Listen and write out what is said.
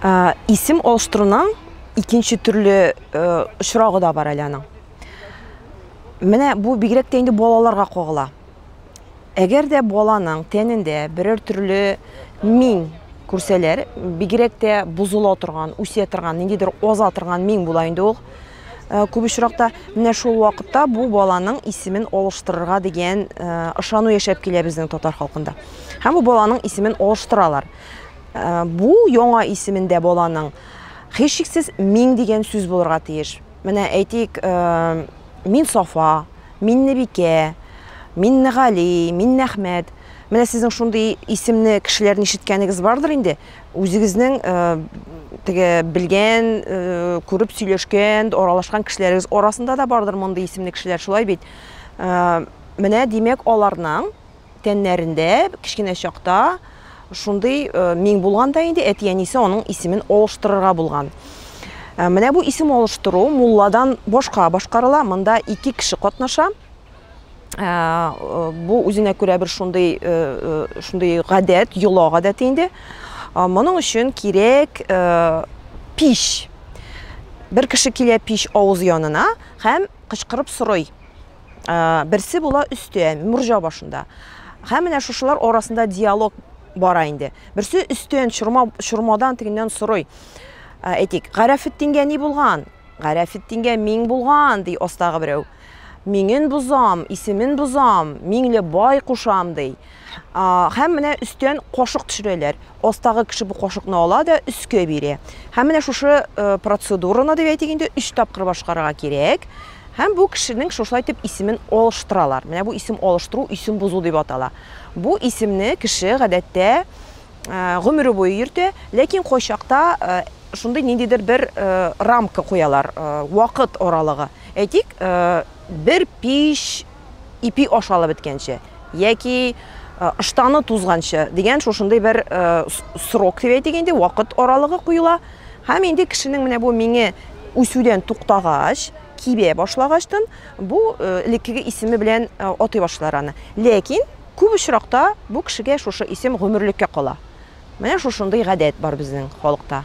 Ә, исем алыштыруның икенче төрле ә, очрагы да бар әле аның. Менә бу бигрәк тә инде балаларга кагыла. Әгәр дә баланың тәнендә берәр төрле мин күрсәләр, бигрәк тә бозыла торган, үсә торган, ниндидер аза торган мин була инде ул. Э, күп очракта менә шул вакытта бу баланың исемен алыштырырга дигән э, ышану яшәп килә безнең татар халкында. Һәм бу баланың исемен алыштыралар. Бу яңа исемендә баланың, һичшиксез, Миң дигән сүз булырга тиеш. Менә, әйтик, Минсафа, Миннебикә, Миннегали, Миннәхмәт. Менә сезнең шундый исемне кешеләрдән ишеткәнегез бардыр инде. Үзегезнең теге белгән, күреп сөйләшкән, аралашкан кешеләрегез арасында да бардыр мондый исемле кешеләр, шулай бит? Менә, димәк, аларның Тәннәрендә кечкенә чакта шундый миң булган да инде әти-әнисе аның исемен алыштырырга булган. Менә бу исем алыштыру мулладан башка башкарыла. Монда ике кеше катнаша. Бу үзенә күрә бер шундый шундый гадәт, йола гадәте инде. Моның өчен кирәк пич. Бер кеше килә пич авыз янына һәм кычкырып сорый. Берсе була өстә, морҗа башында. Һәм менә шушылар арасында диалог бара инде. Берсе өстен чорма чормадан тегеннән сорый. Әйтик, Гарәфетдингә ни булган? Гарәфетдингә миң булган, ди астагы берәү. Миңен бозам, исемен бозам, миңле бай кушам, ди. Һәм менә өстен кошык төшерәләр. Астагы кеше бу кашыкны ала да өскә бирә. Һәм менә шушы процедураны, дип әйтик инде, өч тапкыр башкарырга кирәк. Һәм бу кешенең шушылай итеп исемен алыштыралар. Менә бу исем алыштыру, исем бозу дип атала. Бу исемне кеше, гадәттә, гомере буе йөртә, ләкин кайчакта шундый ниндидер бер рамка куялар, вакыт аралыгы. Әйтик, бер пич, ипи ашалып беткәнче яки ыштаны тузганчы дигән шушындый бер срок дип әйтик инде вакыт аралыгы куела һәм инде кешенең менә бу миңе үсүдән туктагач кибә башлагачтын бу элеккеге исеме белән атый башлар аны ләкин күп очракта бу кешегә шушы исем гомерлеккә кала менә шушындый гадәт бар безнең халыкта